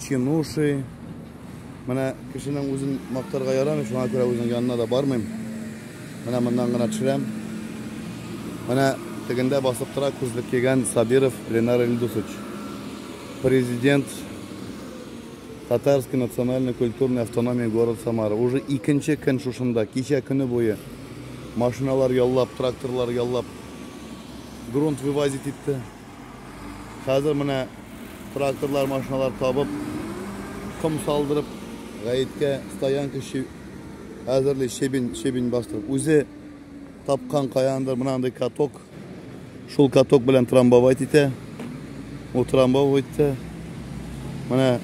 Чинуши. Менә кешенең үзен мактарга ярамый, шуңа күрә үзенең янына да бармыйм. Менә моннан гына төшерәм. Менә тегендә басып тора күзлек кигән Сабиров Ленар Ильдусович. Президент Татарский национальный культурный автономии город Самара. Уже икенче көн шушында, кичә көне буе машиналар яллап, тракторлар яллап, грунт вывозить итте. Хәзер менә тракторлар, машиналар табып, ком салдырып, гаеткә стоянка әзерли, шебен, шебен бастырып. Үзе тапкан каяндыр мынандай каток. Шул каток белән трамбовать итә. Ул трамбовать итә. Менә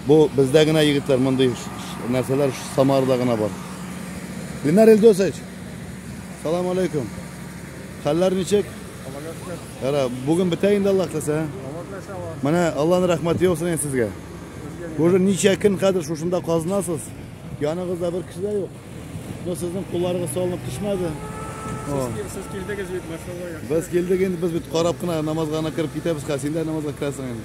бу бездә генә егетләр мондый нәрсәләр Самарда гына бар. Ленар Илдосович, салам алейкум. Хәлләр ничек? Аллага шөкер. Яра, бүген бетә инде Аллаһ теләсә. Менә Аллаһның рәхмәте яусын инде сезгә. Уже ничә көн хәзер шушында казынасыз. Яныгызда бер кеше дә юк. Но сезнең кулларыгыз салынып төшмәде. Сез килдегез бит, машалла. Без килдек инде, без бит карап кына намазга гына кереп китәбез, хәзер син дә намазга керәсең инде.